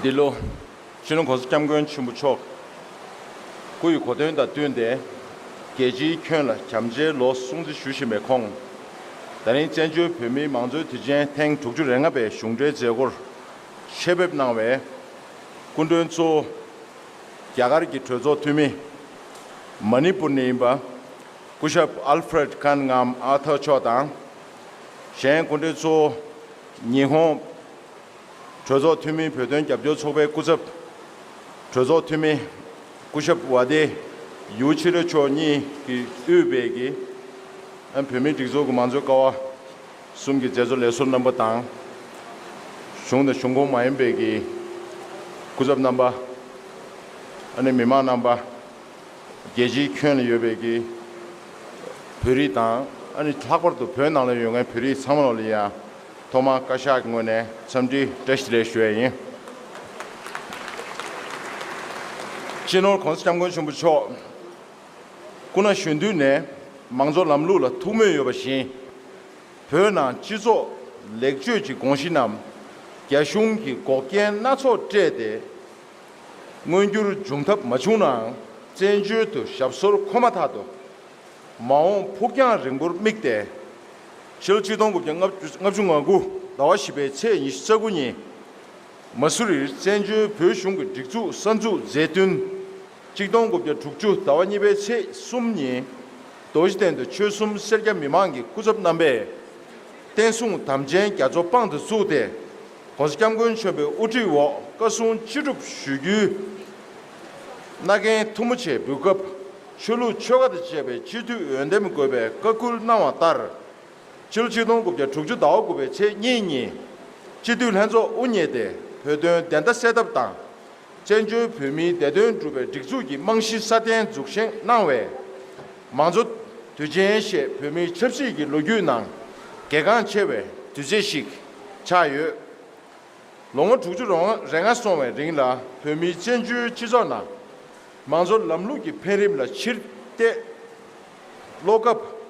འདི་ལོ། ཕྱི་ལོ་གོང་ས་སྐྱབས་མགོན་ཆེན་པོ་མཆོག་སྐུ་ཡི་གོ་སྟོན་དང་བསྟུན་ཏེ། རྒྱལ་སྤྱིའི་ཁྱོན་ལ་བྱམས་བརྩེའི་ལོ་སྲུང་རྩིས་ཞུ་བཞིན་པའི་ཁོང། ད་རིང་བཙན་བྱོལ་བོད་མིའི་མང་གཙོའི་དུས་ཆེན་ཐེངས་དྲུག་ཅུ་རེ་ལྔ་པའི་གཞུང་འབྲེལ་མཛད་སྒོར་ཆེད་ཕེབས་གནང་བས། སྐུ་མགྲོན་གཙོ་བོ། རྒྱ་གར་གྱི་གྲོས་ཚོགས་འཐུས་མི། མ་ནི་པུར་ནས་ཡིན་པ། སྐུ་ཞབས་ཨལ་ཧྥི་རེད་ཁཱན་ངམ་ཨར་ཐར་མཆོག་དང། གཞན་དགོན་སྡེ་ཚོ། ཉི་ཧོང། གྲོས་ཚོགས་འཐུས་མི་བོད་དོན་རྒྱབ་སྐྱོར་ཚོགས་པའི་སྐུ་ཚབ། གྲོས་ཚོགས་འཐུས་མི། སྐུ་ཞབས་བྷ་དེ་ཡུའུ་ཆི་རེ་མཆོག་གཉིས་ཀྱི་དབུས་བེད་ཀྱི་བོད་མིའི་སྒྲིག་འཛུགས་ཀྱི་མང་གཙོའི་ཀ་བ། གསུམ་གྱི་རྗེས་སུ་ལས་སོ་རྣམ་པ་དང། གཞུང་དང་གཞུང་ཁོངས་མ་ཡིན་པའི་གི། སྐུ་ཚབ་རྣམ་པ། ཨ་ནི་མི་མང་རྣམ་པ། རྒྱལ་སྤྱིའི་ཁྱོན་ལ་ཡོད་པའི་གི། བོད་རིགས་དང་ཨ་ནི་ལྷག་པར་དུ་བོད་ནང་ལ་ཡོད་མཁན་བོད་རིགས་ཚང་མ་ལ་ཡང། ཐོག་མར་བཀའ་ཤག་གི་ངོས་ནས་འཚམས་འདྲི་བཀྲ་ཤིས་ལེགས་ཞུ་བ་ཡིན། སྤྱི་ནོར་གོང་ས་སྐྱབས་མགོན་གཞོན་པ་མཆོག། སྐུ་ན་གཞོན་དུས་ནས་མང་གཙོ་ལམ་ལུགས་ལ་ཐུགས་མོས་ཡོད་པ་བཞིན། བོད་ནང་སྤྱི་ཚོགས་ལེགས་བཅོས་ཀྱི་དགོངས་གཞི་རྣམས་རྒྱ་གཞུང་གིས་འགོག་རྐྱེན་སྣ་ཚོགས་སྤྲད་དེ་མངོན་འགྱུར་འབྱུང་ཐབས་མ་བྱུང་ནའང་བཙན་བྱོལ་དུ་ཞབས་སོར་འཁོད་མ་ཐག་ཏུ། མ་འོངས་ཕུགས་རྒྱང་རིང་པོར་དམིགས་ཏེ། ཕྱི་ལོ་གཅིག་སྟོང་དགུ་བརྒྱ་ལྔ་བཅུ་ང་དགུ་ཟླ་བ་བཞི་པའི་ཚེས་ཉི་ཤུ་རྩ་དགུ་ཉིན། མ་སུ་རིར་བཙན་བྱོལ་བོད་གཞུང་གི་སྒྲིག་འཛུགས་གསར་འཛུགས་མཛད་བསྟུན། གཅིག་སྟོང་དགུ་བརྒྱ་དྲུག་ཅུ་ཟླ་བ་གཉིས་པའི་ཚེས་གསུམ་ཉིན། རྡོ་རྗེ་གདན་དུ་ཆོལ་གསུམ་སེར་སྐྱ་མི་མང་གི་སྐུ་ཚབ་རྣམ་པས། བསྟན་སྲུང་དམ་ཅན་རྒྱ་མཚོ་དཔང་དུ་བཙུགས་ཏེ། ྋགོང་ས་སྐྱབས་མགོན་མཆོད་པའི་དབུ་ཁྲིད་འོག་བཀའ་སྲུང་ཅི་སྒྲུབ་ཞུ་རྒྱུའི། རྣ་རྒན་ཐུ་མོ་ཆེ་འབུལ་སྐབས་ཆོས་ལུགས་ཆོལ་ཁ་དང་བཅས་པའི་སྤྱི་འཐུས་འོས་འདེམས་དགོས་པའི་བཀའ་བསྐུལ་གནང་བ་ལྟར། ཕྱི་ལོ་ཆིག་སྟོང་དགུ་བརྒྱ་དྲུག་ཅུ་ཟླ་བ་དགུ་པའི་ཚེས་གཉིས་ཉིན། སྤྱི་འཐུས་ལྷན་ཚོགས་དབུ་བརྙེས་ཏེ་བོད་དོན་བདེན་མཐའ་གསལ་ཐབས་དང། བཙན་བྱོལ་བོད་མིའི་བདེ་དོན་སྒྲུབ་པའི་སྒྲིག་འཛུགས་ཀྱི་རྨང་གཞི་སྲ་བརྟན་འཛུགས་བཞེངས་གནང་བས། མང་གཙོ་དུས་ཆེན་ཞེས་བོད་མིའི་ཆབ་སྲིད་ཀྱི་ལོ་རྒྱུས་ནང་གལ་འགངས་ཆེ་བའི་དུས་ཚེས་ཤིག་ཆགས་ཡོད། ལོ་ངོ་དྲུག་ཅུ་རེ་ལྔ་སོང་བའི་རིང་ལ་བོད་མིའི་བཙན་བྱོལ་སྤྱི་ཚོགས་ནང་མང་གཙོ་ལམ་ལུགས་ཀྱི་འཕེལ་རིམ་ལ་ཕྱིར་བལྟས་ཀློག་སྐབས།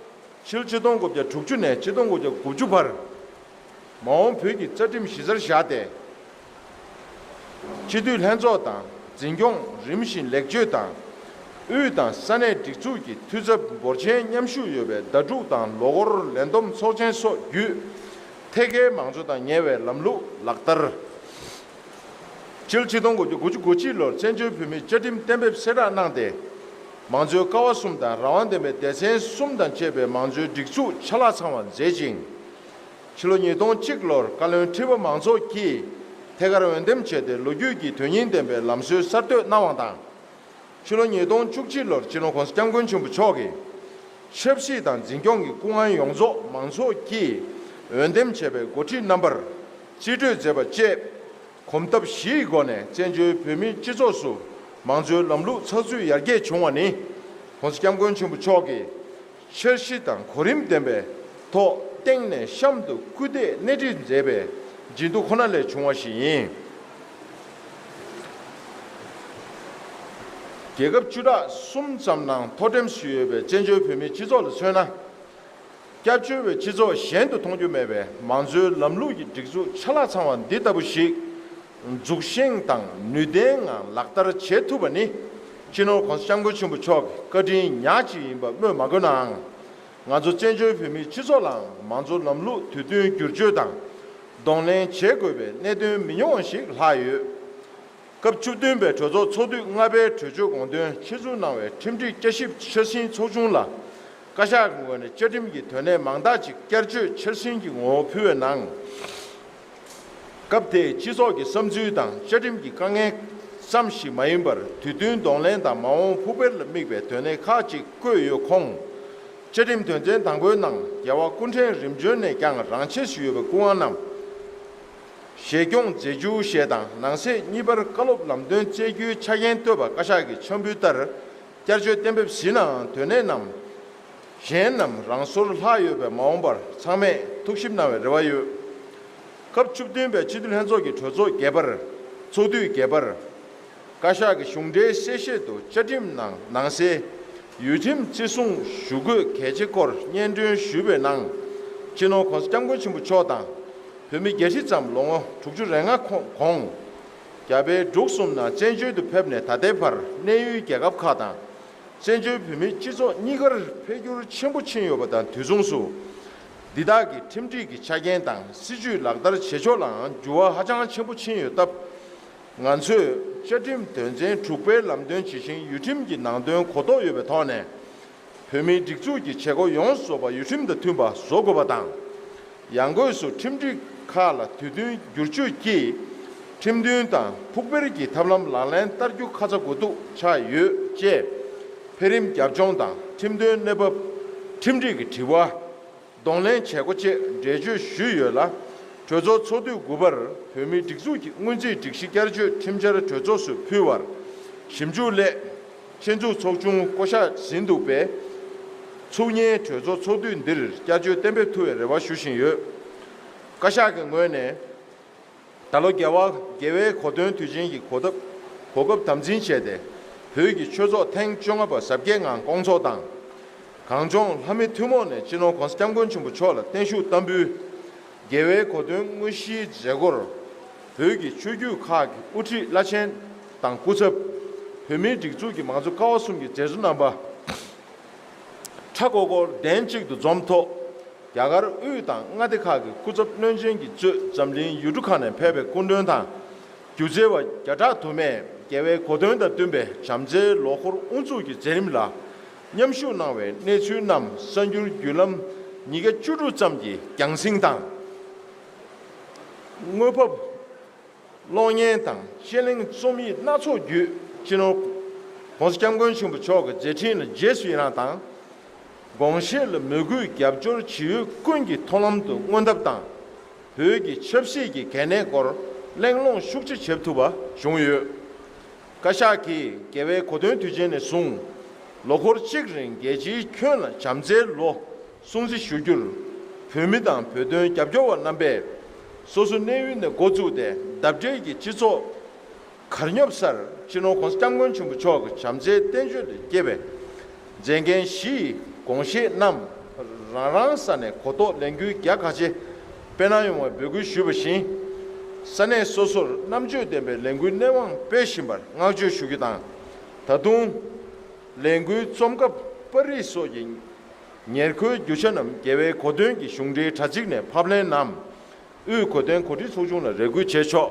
ཕྱི་ལོ་ཆིག་སྟོང་དགུ་བརྒྱ་དྲུག་ཅུ་ནས་ཆིག་སྟོང་དགུ་བརྒྱ་དགུ་བཅུ་བར་མ་འོངས་བོད་ཀྱི་རྩ་ཁྲིམས་གཞི་རྩར་བཞག་སྟེ། སྤྱི་འཐུས་ལྷན་ཚོགས་དང་འཛིན་སྐྱོང་རིམ་བཞིན་ལེགས་བཅོས་དང། དབུས་དང་ས་གནས་སྒྲིག་འཛུགས་ཀྱི་འཐུས་ཚབ་འབོར་ཆེན་མཉམ་ཞུགས་ཡོད་པའི་ཟླ་དྲུག་དང་ལོ་འཁོར་ལས་བསྡོམས་ཚོགས་ཆེན་སོགས་བརྒྱུད། ཐད་ཀའི་མང་གཙོ་དང་ཉེ་བའི་ལམ་ལུགས་ལག་བསྟར། ཅེལ་ཆིག་སྟོང་དགུ་བཅུ་དགུ་བཅུ་དགུ་ཕྱི་ལོར་བཙན་བྱོལ་བོད་མིའི་བཅའ་ཁྲིམས་གཏན་འབེབས་གསལ་བསྒྲགས་གནང་སྟེ། མང་གཙོའི་ཀ་བ་གསུམ་དང་རང་དབང་ལྡན་པའི་སྡེ་ཚན་གསུམ་དང་བཅས་པའི་མང་གཙོའི་སྒྲིག་འཛུགས་ཆ་ལག་ཚང་བར་མཛད་ཅིང། ཕྱི་ལོ་ཉིས་སྟོང་གཅིག་ལོར་བཀའ་བློན་ཁྲི་པ་མང་ཚོགས་ཀྱིས་ཐད་ཀར་འོས་འདེམས་བྱས་ཏེ་ལོ་རྒྱུས་ཀྱི་དོན་སྙིང་ལྡན་པའི་ལམ་སྲོལ་གསར་གཏོད་གནང་བ་དང། ཕྱི་ལོ་ཉིས་སྟོང་བཅུ་གཅིག་ལོར་སྤྱི་ནོར ྋགོང་ས ྋསྐྱབས་མགོན་ཆེན་པོ་མཆོག་གིས་ཆབ་སྲིད་དང་འཛིན་སྐྱོང་གི་སྐུ་དབང་ཡོངས་རྫོགས་མང་ཚོགས་ཀྱིས་འོས་འདེམས་བྱས་པའི་མགོ་ཁྲིད་རྣམ་པར་རྩིས་སྤྲོད་མཛད་པ་བཅས་གོམ་སྟབས་བཞིའི་སྒོ་ནས་བཙན་བྱོལ་བོད་མིའི་སྤྱི་ཚོགས་སུ་མང་གཙོའི་ལམ་ལུགས་ཚགས་ཚུད་ཡར་རྒྱས་བྱུང་བ་ནི ྋགོང་ས ྋསྐྱབས་མགོན་ཆེན་པོ་མཆོག་གིས་འཆར་གཞི་དང་གོ་རིམ་ལྡན་པའི་ཐོག་སྟེང་ནས་གཤམ་དུ་སྐུལ་འདེད་སྣེ་ཁྲིད་མཛད་པའི་ཇེ་སྡུག་ཁོ་ན་ལས་བྱུང་བ་ཞིག་ཡིན། རྒྱལ་ཁབ་བཅུ་ཕྲག་གསུམ་ཙམ་ནང་མཐོ་འགྲེམས་སུ་ཡོད་པའི་བཙན་བྱོལ་བོད་མིའི་སྤྱི་ཚོགས་ལ་མཚོན་ན། སྐྱབས་བཅོལ་བའི་སྤྱི་ཚོགས་གཞན་དུ་མཐོང་རྒྱུ་མེད་པའི་མང་གཙོའི་ལམ་ལུགས་ཀྱི་སྒྲིག་འཛུགས་ཆ་ལག་ཚང་བ་འདི་ལྟ་བུ་ཞིག་འཛུགས་ཤིང་དང་ནུས་ལྡན་ངང་ལག་བསྟར་བྱེད་ཐུབ་པ་ནི་སྤྱི་ནོར ྋགོང་ས ྋསྐྱབས་མགོན་ཆེན་པོ་མཆོག་གི་བཀའ་དྲིན་ཉག་གཅིག་ཡིན་པ་སྨོས་མ་དགོས་ནའང། ང་ཚོ་བཙན་བྱོལ་བོད་མིའི་སྤྱི་ཚོགས་ལའང་མང་གཙོ་ལམ་ལུགས་དུས་བསྟུན་བསྒྱུར་བཅོས་དང་གདོང་ལེན་བྱེད་དགོས་པའི་གནད་དོན་མི་ཉུང་བ་ཞིག་ལྷག་ཡོད། སྐབས་བཅུ་བདུན་པའི་གྲོས་ཚོགས་ཚོགས་དུས་ལྔ་པའི་གྲོས་ཆོད་དགོངས་དོན་ཆེད་འཛུགས་གནང་བའི་ཁྲིམས་སྒྲིག་བསྐྱར་ཞིབ་ཕྱིར་ཟིན་ཚོགས་ཆུང་ལ་བཀའ་ཤག་གི་ངོས་ནས་བཅའ་ཁྲིམས་ཀྱི་དོན་གནད་མང་དག་ཅིག་བསྐྱར་བཅོས་ཕྱིར་ཟིན་གྱི་ངོ་བོ་ཕུལ་བའི་ནང། སྐབས་དེའི་སྤྱི་ཚོགས་ཀྱི་བསམ་ཚུལ་དང་བཅའ་ཁྲིམས་ཀྱི་དཀའ་ངལ་ཙམ་ཞིག་མ་ཡིན་པར་དུས་བསྟུན་གདོང་ལེན་དང་མ་འོངས་ཕུགས་འཕེར་ལ་དམིགས་པའི་དོན་གནད་ཁག་ཅིག་བཀོད་ཡོད་ཁོངས། བཅའ་ཁྲིམས་དོན་ཚན་དང་པོའི་ནང་རྒྱལ་བ་སྐུ་ཕྲེང་རིམ་བྱོན་ནས་ཀྱང་རང་ཆས་སུ་ཡོད་པའི་སྐུ་དབང་རྣམས་བཞེས་སྐྱོང་མཛད་རྒྱུ་ཞེས་དང་ནང་གསེས་གཉིས་པར་བཀའ་སློབ་ལམ་སྟོན་བསྩལ་རྒྱུའི་ཆ་རྐྱེན་བཏོད་པ་བཀའ་ཤག་གི་ཕྱག་འབུལ་ལྟར་བསྐྱར་བཅོས་གཏན་འབེབས་ཟིན་ནའང་དོན་གནད་རྣམས། གཞན་རྣམས་རང་སོར་ལྷག་ཡོད་པས་མ་འོངས་པར་ཚང་མས་ཐུགས་ཞིབ་གནང་བའི་རེ་བ་ཡོད། སྐབས་བཅུ་བདུན་པའི་སྤྱི་འཐུས་ལྷན་ཚོགས་ཀྱི་གྲོས་ཚོགས་བརྒྱད་པར་ཚོགས་དུས་བརྒྱད་པར། བཀའ་ཤག་གི་གཞུང་འབྲེལ་གསལ་བཤད་དུ་བཅའ་ཁྲིམས་ནང་ནང་གསེས་ཡུལ་ཁྲིམས་བརྩི་སྲུང་ཞུ་དགོས་གལ་ཆེ་སྐོར་སྙན་སྒྲོན་ཞུས་པའི་ནང། སྤྱི་ནོར ྋགོང་ས ྋསྐྱབས་མགོན་ཆེན་པོ་མཆོག་དང། བོད་མི་བརྒྱད་ཁྲི་ཙམ་ལོ་ངོ་དྲུག་ཅུ་རེ་ལྔ་གོང། རྒྱ་བལ་འབྲུག་གསུམ་ནང་བཙན་བྱོལ་དུ་ཕེབས་ནས་ད་ལྟའི་བར་གནས་ཡུལ་རྒྱལ་ཁབ་ཁག་དང་བཙན་བྱོལ་བོད་མིའི་སྤྱི་ཚོགས་གཉིས་ཀར་འཕེལ་འགྱུར་ཆེན་པོ་ཕྱིན་ཡོད་པ་དང་དུས་མཚུངས་སུ། འདི་དག་གི་ཁྲིམས་སྒྲིག་གི་ཆ་རྐྱེན་དང་སྲིད་ཇུས་ལག་བསྟར་བྱེད་ཕྱོགས་ལའང་འགྱུར་བ་ཧ་ཅང་ཆེན་པོ་ཕྱིན་ཡོད་སྟབས། ང་ཚོས་བཅའ་ཁྲིམས་དོན་ཚན་དྲུག་པའི་ལམ་སྟོན་ཇི་བཞིན་ཡུལ་ཁྲིམས་ཀྱི་ནང་དོན་གོ་རྟོགས་ཡོད་པའི་ཐོག་ནས། བོད་མིའི་སྒྲིག་འཛུགས་ཀྱི་བྱེད་སྒོ་ཡོངས་རྫོགས་པ་ཡུལ་ཁྲིམས་དང་མཐུན་པ་བཟོ་དགོས་པ་དང། ཡང་སྒོས་སུ་ཁྲིམས་སྒྲིག་ཁག་ལ་དུས་བསྟུན་བསྒྱུར་བཅོས་ཀྱིས་ཁྲིམས་མཐུན་དང་ཕུགས་འཕེར་གྱི་ཐབས་ལམ་ལག་ལེན་བསྟར་རྒྱུ་ཁ་ཚ་དགོས་གཏུག་ཆགས་ཡོད་ཅེས། འཕེལ་རིམ་རྒྱབ་ལྗོངས་དང་ཁྲིམས་དོན་གནས་བབ། ཁྲིམས་སྒྲིག་གི་དྲི་བ། གདོང་ལེན་བྱེད་སྒོ་བཅས་འགྲེལ་བརྗོད་ཞུས་ཡོད་ལ། གྲོས་ཚོགས་ཚོགས་དུས་དགུ་པར་བོད་མིའི་སྒྲིག་འཛུགས་ཀྱི་སྔོན་རྩིས་སྒྲིག་གཞི་བསྐྱར་བཅོས་ཁྲིམས་འཆར་གྲོས་ཚོགས་སུ་ཕུལ་བར་ཞིབ་འཇུག་སླད། ཆེད་འཛུགས་ཚོགས་ཆུང་བསྐོ་གཞག་ཟིན་འདུག་པས། ཚུགས་གཉིས་གྲོས་ཚོགས་ཚོགས་དུས་འདིར་བསྐྱར་བཅོས་གཏན་འབེབས་ཐུབ་པའི་རེ་བ་ཞུ་བཞིན་ཡོད། བཀའ་ཤག་གི་ངོས་ནས། ད་ལོ་རྒྱལ་བ་དགེ་བའི་གོ་སྟོན་དུས་ཆེན་གྱི་གོ་སྟབས་གོ་སྐབས་དམ་འཛིན་བྱས་ཏེ། བོད་ཀྱི་ཆོས་ཚོགས་ཐེངས་བཅོ་ལྔ་པ་གཟབ་རྒྱས་ངང་བསྐོང་ཚོགས་དང། གངས་ལྗོངས་ལྷ་མི་ཐུན་མོང་ནས་སྤྱི་ནོར ྋགོང་ས ྋསྐྱབས་མགོན་ཆེན་པོ་མཆོག་ལ་བརྟན་བཞུགས་བསྟར་འབུལ། རྒྱལ་བའི་གོ་སྟོན་དངོས་གཞིའི་མཛད་སྒོར། བོད་ཀྱི་ཆོས་བརྒྱུད་ཁག་གི་དབུ་ཁྲིད་བླ་ཆེན་དང་སྐུ་ཚབ། བོད་མིའི་སྒྲིག་འཛུགས་ཀྱི་མང་གཙོ་ཀ་བ་གསུམ་གྱི་མཛད་གཙོ་རྣམ་པ། ཁྲ་ཀོ་ཀོར་གདན་གཅིག་ཏུ་འཛོམས་ཐོག་རྒྱ་གར་དབུས་དང་མངའ་སྡེ་ཁག་གི་སྐུ་ཚབ་བློན་ཆེན་གྱིས་གཙོས་འཛམ་གླིང་ཡུལ་གྲུ་ཁག་ནས་ཕེབས་པའི་སྐུ་མགྲོན་དང་སྒྱུ་རྩལ་བ་བརྒྱ་ཕྲག་དུ་མས་རྒྱལ་བའི་གོ་སྟོན་དང་བསྟུན་པའི་བྱམས་བརྩེའི་ལོ་འཁོར་དབུ་འཛུགས་ཀྱི་མཛད་རིམ་ལ་མཉམ་ཞུགས་གནང་བའི་གནས་ཚུལ་རྣམས་གསར་འགྱུར་བརྒྱུད་ལམ་ཉིས་བརྒྱ་བཅུ་དྲུག་ཙམ་གྱིས་རྒྱང་བསྲིང་དང། དངོས་ཕབ། གློག་བརྙན་དང་དཔྱད་གླེང་རྩོམ་ཡིག་སྣ་ཚོགས་བརྒྱུད་སྤྱི་ནོར ྋགོང་ས ྋསྐྱབས་མགོན་ཆེན་པོ་མཆོག་གི་མཛད་འཕྲིན་ལ་རྗེས་སུ་ཡི་རངས་དང། དགོངས་བཞེས་ལ་མོས་གུས་རྒྱབ་སྐྱོར་ཇི་ཡོད་ཀུན་གྱི་མཐོང་ལམ་དུ་མངོན་ཐབས་དང། བོད་ཀྱི་ཆབ་སྲིད་ཀྱི་གལ་གནད་སྐོར་གླེང་སློང་ཤུགས་ཆེ་བྱེད་ཐུབ་པ་བྱུང་ཡོད། བཀའ་ཤག་གིས་རྒྱལ་བའི་གོ་སྟོན་དུས་ཆེན་ནས་བཟུང་ལོ་འཁོར་གཅིག་རིང་རྒྱལ་སྤྱིའི་ཁྱོན་ལ་བྱམས་བརྩེའི་ལོ་སྲུང་བརྩི་ཞུ་རྒྱུར། བོད་མི་དང་བོད་དོན་རྒྱབ་སྐྱོར་བ་རྣམ་པས་སོ་སོའི་གནས་ཡུལ་ནས་འགོ་བཙུགས་ཏེ་འདབས་འབྲེལ་གྱི་སྤྱི་ཚོགས་གར་སྙོབ་སར་སྤྱི་ནོར ྋགོང་ས ྋསྐྱབས་མགོན་ཆེན་པོ་མཆོག་གི་བྱམས་བརྩེའི་བསྟན་བཅོས་ལས་སྐྱེས་པའི་མཛད་འགན་བཞི་ཡི་དགོངས་བཞེས་རྣམས་རང་རང་ས་ནས་གོ་རྟོགས་ལས་འགུལ་རྒྱ་ཁ་ཆེ་སྤེལ་གནང་ཡོང་བའི་འབོད་སྐུལ་ཞུས་པ་བཞིན། ས་གནས་སོ་སོར་རྣམ་དཔྱོད་ལྡན་པའི་ལས་འགུལ་སྣེ་དབང་སྤེལ་བཞིན་པར་བསྔགས་བརྗོད་ཞུ་རྒྱུ་དང། ད་དུང། ལས་འགུལ་རྩོམ་སྐབས་པར་རིས་སོགས་ཀྱི་ཉེར་མཁོའི་རྒྱུ་ཆ་རྣམས་རྒྱལ་བའི་གོ་སྟོན་གྱི་གཞུང་འབྲེལ་དྲ་ཚིགས་ནས་ཕབ་ལེན་ནམ། དབུས་གོ་སྟོན་གོ་སྒྲིག་ཚོགས་ཆུང་ལ་རེ་སྐུལ་བྱས་ཆོག།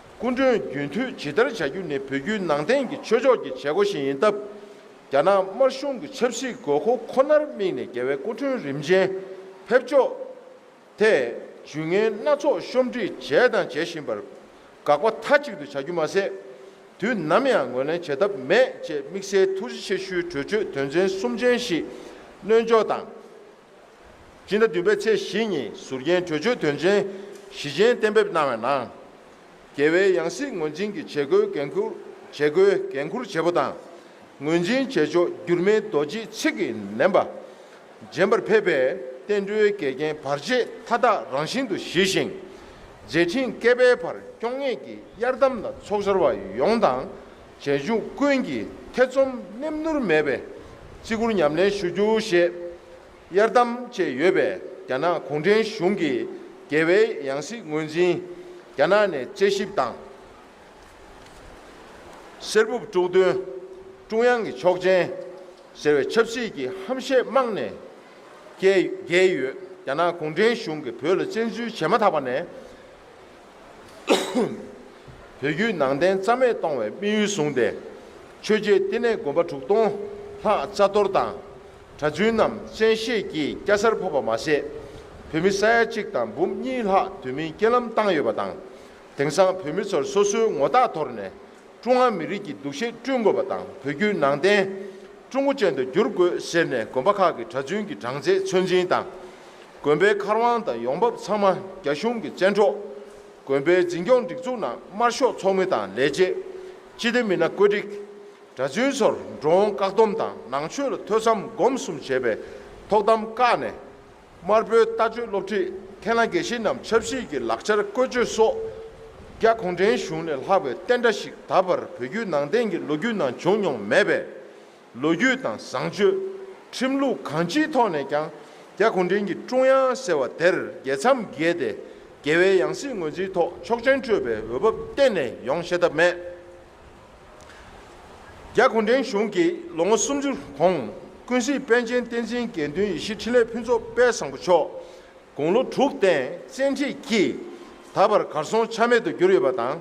སྐུ་མགྲོན་རྒྱུན་མཐུད་ཇི་ལྟར་བྱ་རྒྱུ་ནི་བོད་བརྒྱུད་ནང་བསྟན་གྱི་ཆོས་ཕྱོགས་ཀྱི་བྱེད་སྒོ་ཞིག་ཡིན་སྟབས། རྒྱ་ནག་དམར་གཞུང་གི་ཆབ་སྲིད་དགོས་མཁོ་ཁོ་ནར་དམིགས་ནས་རྒྱལ་བའི་སྐུ་མགྲོན་རིམ་ཅན་ཕེབས་ཕྱོགས་ཐད་ཇུས་ངན་སྣ་ཚོགས་ཤོམ་འབྲི་བྱས་དང་བྱེད་བཞིན་པར་དགག་པ་མཐའ་གཅིག་ཏུ་བྱ་རྒྱུ་མ་ཟད། དུས་ནམ་ཡང་ངོས་ལེན་བྱེད་ཐབས་མེད་ཅེས་དམིགས་བསལ་ཐུགས་རྗེ་ཆེ་ཞུའི་གྲོས་ཆོད་དོན་ཚན་གསུམ་ཅན་ཞིག་སྣོལ་འཇོག་དང། སྤྱི་ཟླ་བདུན་པའི་ཚེས་བཞི་ཉིན་ཟུར་རྒྱན་བྲོས་བྱོལ་དོན་ཆེན་བཞི་ཅན་གཏན་འབེབས་གནང་བའི་ནང། རྒྱལ་བའི་ཡང་སྲིད་ངོས་འཛིན་གྱི་བྱེད་སྒོའི་འགན་འཁུར་བྱེད་སྒོའི་འགན་འཁུར་བྱེད་པོ་དང་ངོས་འཛིན་བྱེད་ཕྱོགས་འགྱུར་མེད་རྡོ་རྗེའི་ཚིག་གིས་ལེན་པ། རྗེན་པར་ཕེབས་པའི་བསྟན་འགྲོའི་འགལ་རྐྱེན་བར་ཆད་མཐའ་དག་རང་བཞིན་དུ་ཞི་ཞིང། མཛད་འཕྲིན་བསྐལ་པའི་བར་སྐྱོང་ངེད་ཀྱི་གཡར་དམ་ལ་ཚོགས་བྱར་བ་ཡོངས་དང་རྗེས་འཇུག་ཀུན་གྱིས་ཐེ་ཚོམ་ནེམ་ནུར་མེད་པའི་བརྩི་བཀུར་ཉམས་ལེན་ཞུ་རྒྱུ་ཞེས་གཡར་དམ་བཅས་ཡོད་པས་རྒྱ་ནག་གུང་ཁྲན་གཞུང་གིས་རྒྱལ་བའི་ཡང་སྲིད་ངོས་འཛིན་རྒྱ་ནག་ནས་དཔྱད་ཞིབ་དང། གསེར་སྦུབས་དཀྲུག་འདོན། ཀྲུང་དབྱང་གི་ཆོག་མཆན་ཟེར་བའི་ཆབ་སྲིད་ཀྱི་ཧམ་བཤད་རྨང་ནས་བརྒལ་ཡོད་རྒྱ་ནག་གུང་ཁྲན་གཞུང་གིས་བོད་ལ་བཙན་འཛུལ་བྱས་མ་ཐག་པ་ནས། བོད་བརྒྱུད་ནང་བསྟན་རྩ་མེད་གཏོང་བའི་དམིགས་ཡུལ་བཟུང་སྟེ། ཆོས་རྗེ་བསྟི་གནས་དགོན་པ་དྲུག་སྟོང་ལྷག་རྩ་གཏོར་དང་གྲྭ་བཙུན་རྣམས་བཙན་ཤེད་ཀྱིས་སྐྱ་སར་ཕབ་པ་མ་ཟད། བོད་མི་ས་ཡ་གཅིག་དང་འབུམ་གཉིས་ལྷག་དུས་མིན་རྐྱེན་ལམ་བཏང་ཡོད་པ་དང། དེང་སང་བོད་མི་ཚོར་སོ་སོའི་ངོ་རྟགས་དོར་ནས་ཀྲུང་ཧྭ་མི་རིགས་ཀྱི་འདུ་ཤེས་བསྐྲུན་དགོས་པ་དང་བོད་བརྒྱུད་ནང་བསྟན་ཀྲུང་གོ་ཅན་དུ་བསྒྱུར་དགོས་ཟེར་ནས་དགོན་པ་ཁག་གི་གྲྭ་བཙུན་གྱི་གྲངས་ཚད་ཚོད་འཛིན་དང། དགོན་པའི་མཁར་དབང་དང་ཡོང་འབབ་ཚང་མ་རྒྱ་གཞུང་གི་བཙན་འཕྲོག། དགོན་པའི་འཛིན་སྐྱོང་སྒྲིག་འཛུགས་ནང་དམར་ཤོག་ཚོགས་མི་དང་ལས་བྱེད། སྤྱི་བདེ་མི་སྣ་བཀོད་སྒྲིག། གྲྭ་བཙུན་ཚོར་འགྲོ་འོང་བཀག་སྡོམ་དང་ནང་ཆོས་ལ་ཐོས་བསམ་སྒོམ་གསུམ་བྱེད་པའི་ཐོག་གཏམ་བཀག་ནས། དམར་པོའི་ལྟ་སྤྱོད་སློབ་ཁྲིད་ཐན་ལ་དགེ་བཤེས་རྣམས་ཆབ་སྲིད་ཀྱི་ལག་ཆར་བཀོལ་སྤྱོད་སོགས། རྒྱ་གུང་ཁྲན་གཞུང་ནས་ལྷག་པའི་བསྟན་དགྲ་ཞིག་ད་བར་བོད་བརྒྱུད་ནང་བསྟན་གྱི་ལོ་རྒྱུས་ནང་བྱུང་མྱོང་མེད་པས། ལོ་རྒྱུས་དང་བཟང་སྤྱོད། ཁྲིམས་ལུགས་གང་ཅིའི་ཐོག་ནས་ཀྱང་རྒྱ་གུང་ཁྲན་གྱི་ཀྲུང་དབྱང་ཟེར་བ་དེར་རྒྱལ་མཚམས་བརྒལ་ཏེ་རྒྱལ་བའི་ཡང་སྲིད་ངོས་འཛིན་ཐོག་ཆོག་མཆན་སྤྲོད་པའི་འོས་བབ་གཏན་ནས་ཡོང་ཤེས་ཐབས་མེད། རྒྱ་གུང་ཁྲན་གཞུང་གིས་ལོ་ངོ་སུམ་ཅུ་གོང་ཀུན་གཟིགས་པཎ་ཆེན་བསྟན་འཛིན་དགེ་འདུན་ཡེ་ཤེས་འཕྲིན་ལས་ཕུན་ཚོགས་དཔལ་བཟང་པོ་མཆོག་དགུང་ལོ་དྲུག་སྟེང་བཙན་ཁྲིད་ཀྱིས་ད་བར་གར་སོང་ཆ་མེད་དུ་གྱུར་ཡོད་པ་དང།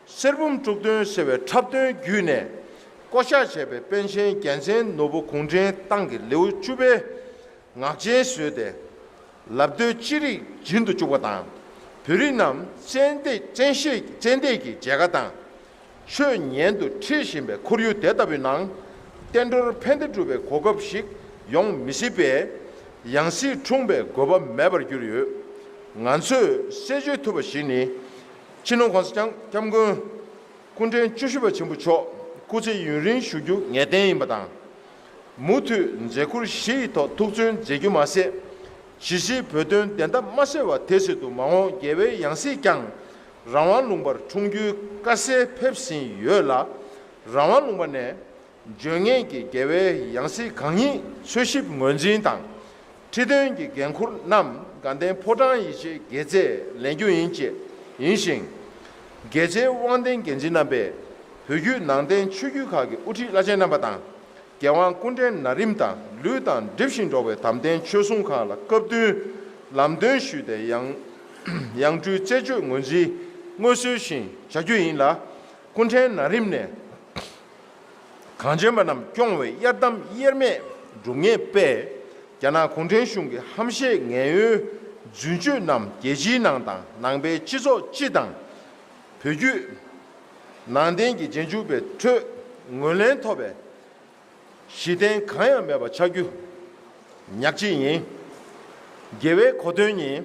གསེར་བུམ་དཀྲུག་སྟོན་ཟེར་བའི་འཁྲབ་སྟོན་བརྒྱུད་ནས་བསྐོ་བཞག་བྱས་པའི་པཎ་ཆེན་རྒྱལ་མཚན་ནོར་བུ་གུང་ཁྲན་ཏང་གི་ལེའུ་བཅུ་པའི་ངག་འཇལ་བཟོས་ཏེ་ལབ་བརྡོལ་ཅི་རིགས་སྦྱིན་དུ་བཅུག་པ་དང། བོད་རིགས་རྣམས་བཙན་ཤེད་ཀྱིས་མཇལ་ཁ་དང། ཆོས་ཉན་དུ་འཁྲིད་བཞིན་པའི་ཁོར་ཡུག་དེ་ལྟ་བུའི་ནང། བསྟན་འགྲོར་ཕན་བདེ་སྒྲུབ་པའི་གོ་སྐབས་ཤིག་ཡོང་མི་སྲིད་པས། ཡང་སྲིད་འཁྲུངས་པའི་དགོས་པ་མེད་པར་གྱུར་ཡོད། ང་ཚོས་གསལ་བརྗོད་ཐུབ་པ་ཞིག་ནི། ཕྱི་ནང་གོང་ས་སྐྱབས་མགོན་སྐུ་ཕྲེང་བཅུ་བཞི་པ་ཆེན་པོ་མཆོག་སྐུ་ཚེ་ཡུན་རིང་བཞུགས་རྒྱུ་ངེས་གཏན་ཡིན་པ་དང། མུ་མཐུད་མཛད་ཁུར་བཞི་ཡི་ཐོག་ཐུགས་བརྩོན་མཛད་རྒྱུ་མ་ཟད། གཞིས་བྱེས་བོད་དོན་བདེན་མཐའ་མ་གསལ་བ་དེ་ཕྱིར་དུ་མ་འོངས་རྒྱལ་བའི་ཡང་སྲིད་ཀྱང་རང་དབང་ལུང་པར་འཁྲུངས་རྒྱུའི་དཀའ་སེལ་ཕེབས་ཟིན་ཡོད་ལ། རང་དབང་ལུང་པ་ནས་འབྱོན་ངེས་ཀྱི་རྒྱལ་བའི་ཡང་སྲིད་གང་ཉིད་འཚོལ་ཞིབ་ངོས་འཛིན་དང། ཁྲི་འདོན་གྱི་འགན་འཁུར་རྣམས་དགའ་ལྡན་ཕོ་བྲང་ཡིད་ཆེས་དགེ་རྩས་ལེན་རྒྱུ་ཡིན་བཅས་ཡིན་ཞིང། རྒྱལ་གཅེས་དབང་ལྡན་འགན་འཛིན་རྣམ་པས་བོད་བརྒྱུད་ནང་བསྟན་ཆོས་བརྒྱུད་ཁག་གི་དབུ་ཁྲིད་བླ་ཆེན་རྣམ་པ་དང་རྒྱལ་དབང་སྐུ་འཕྲེང་ན་རིམ་དང་ལུས་དང་གྲིབ་བཞིན་འགྲོགས་པའི་དམ་ལྡན་ཆོས་སྲུང་ཁག་ལ་སྐབས་བསྟུན་ལམ་སྟོན་ཞུས་ཏེ་ཡང་ཡང་སྤྲུལ་རྩད་གཅོད་ངོས་འཛིན་དངོས་གསོལ་བཞིན་བྱ་རྒྱུ་ཡིན་ལ་སྐུ་འཕྲེང་ན་རིམ་ནས་གངས་ཅན་པ་རྣམས་སྐྱོང་བའི་གཡར་དམ་དབྱེར་མེད་འབྲུ་ལྔའི་དཔལ། རྒྱ་ནག་གུང་ཁྲན་གཞུང་གི་ཧམ་བཤད་ངན་གཡོའི་རྫུན་བཅོས་རྣམས་རྒྱལ་སྤྱིའི་ནང་དང་ནང་པའི་སྤྱི་ཚོགས་སྤྱི་དང། བོད་བརྒྱུད་ནང་བསྟན་གྱི་རྗེས་འཇུག་པའི་ཁྲོད་ངོས་ལེན་ཐོབ་པའི་གཞི་རྟེན་གང་ཡང་མེད་པ་ཆགས་རྒྱུ་ཉག་གཅིག་ཡིན། རྒྱལ་བའི་གོ་དོན་ཉིད་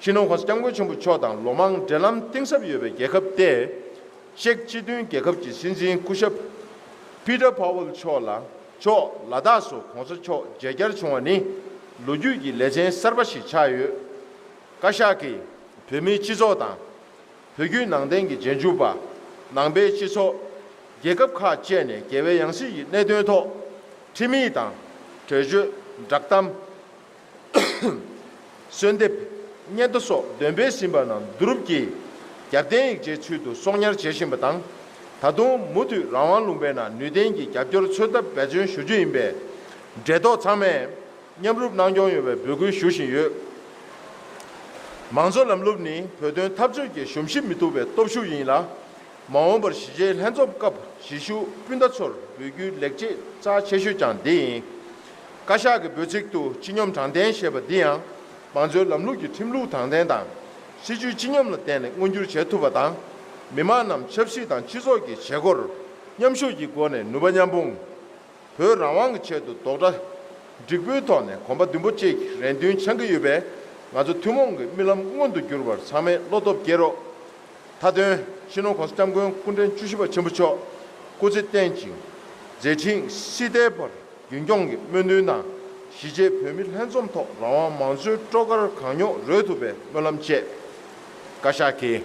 ཅིན་ཧོ་ཧོས་སྐྱབས་མགོན་ཆེན་པོ་མཆོག་དང་ལོ་མང་འབྲེལ་ལམ་གཏིང་ཟབ་ཡོད་པའི་རྒྱལ་ཁབ་སྟེ། ཅེཀ་སྤྱི་མཐུན་རྒྱལ་ཁབ་ཀྱི་སྲིད་འཛིན་སྐུ་ཞབས། Peter Pavel། མཆོག་ལ་མཆོག་ལ་དྭགས་སུ་གོང་ས་མཆོག་མཇལ་བསྐྱར་བྱུང་བ་ནི་ལོ་རྒྱུས་ཀྱི་ལེ་ཚན་གསར་པ་ཞིག་ཆགས་ཡོད། བཀའ་ཤག་གིས་བོད་མིའི་སྤྱི་ཚོགས་དང། བོད་བརྒྱུད་ནང་བསྟན་གྱི་རྗེས་འཇུག་པ། ནང་པའི་སྤྱི་ཚོགས། རྒྱལ་ཁབ་ཁག་བཅས་ནས་རྒྱལ་བའི་ཡང་སྲིད་ཀྱི་གནད་དོན་ཐོག། ཁྲིམས་ཡིག་དང། གྲོས་ཆོད། བསྒྲགས་གཏམ། གསོལ་འདེབས། བསྙེན་དུ་སོགས་འདོན་སྤེལ་ཟིན་པ་རྣམས་བསྡུ་རུབ་ཀྱིས། རྒྱབ་བརྟེན་ཡིག་ཆའི་ཚུལ་དུ་གསོག་ཉར་བྱེད་བཞིན་པ་དང། ད་དུང་མུ་མཐུད་རང་དབང་ལུང་པའི་ནང་ནུས་ལྡན་གྱི་རྒྱབ་སྐྱོར་འཚོལ་ཐབས་འབད་བརྩོན་ཞུ་རྒྱུ་ཡིན་པས། འབྲེལ་ཐོགས་ཚང་མས་མཉམ་རུབ་གནང་སྐྱོང་ཡོང་བའི་འབོད་སྐུལ་ཞུ་བཞིན་ཡོད། མང་གཙོ་ལམ་ལུགས་ནི་བོད་དོན་འཐབ་རྩོད་ཀྱི་གཞོམ་གཞིག་མི་ཐུབ་པའི་སྟོབས་ཤུགས་ཡིན་ལ། མ་འོངས་པར་གཞིས་བྱེས་ལྷན་འཛོམས་སྐབས་གཞིས་བཞུགས་སྤུན་ཟླ་ཚོར་འབུལ་རྒྱུའི་ལེགས་སྐྱེས་རྩ་ཆེ་ཤོས་ཀྱང་འདི་ཡིན། བཀའ་ཤག་གི་འབོད་ཚིག་ཏུ་སྤྱི་སྙོམས་དྲང་བདེན་ཞེས་པ་འདི་ཡང་མང་གཙོའི་ལམ་ལུགས་ཀྱི་ཁྲིམས་ལུགས་དྲང་བདེན་དང་སྲིད་ཇུས་སྤྱི་སྙོམས་ལ་བརྟེན་ནས་མངོན་འགྱུར་བྱེད་ཐུབ་པ་དང། མི་དམངས་རྣམས་ཆབ་སྲིད་དང་སྤྱི་ཚོགས་ཀྱི་བྱེད་སྒོར་མཉམ་ཞུགས་ཀྱི་སྒོ་ནས་ནུས་པ་མཉམ་སྤུངས། བོད་རང་དབང་གི་ཆེད་དུ་རྡོག་སྒྲ་འགྲིག་པོའི་ཐོག་ནས་གོམ་པ་མདུན་སྤོ་བཅས་ཀྱི་རེ་འདུན་འཆང་གི་ཡོད་པས་ང་ཚོ་ཐུན་མོང་གི་རྨི་ལམ་མངོན་དུ་འགྱུར་བར་ཚང་མས་བློ་སྟོབས་བསྐྱེད་རོགས། མཐའ་དོན་སྤྱི་ནོར ྋགོང་ས ྋསྐྱབས་མགོན་སྐུ་ཕྲེང་བཅུ་བཞི་པ་ཆེན་པོ་མཆོག་སྐུ་ཚེ་བརྟན་ཅིང་མཛད་འཕྲིན་སྲིད་མཐའི་བར་རྒྱུན་འཁྱོངས་ཀྱིས་སྨོན་འདུན་དང་གཞིས་བྱེས་བོད་མི་ལྷན་འཛོམས་ཐོག་རང་དབང་མང་གཙོའི་སྤྲོ་གར་གང་མྱོང་རོལ་ཐུབ་པའི་སྨོན་ལམ་བཅས། བཀའ་ཤག་གིས།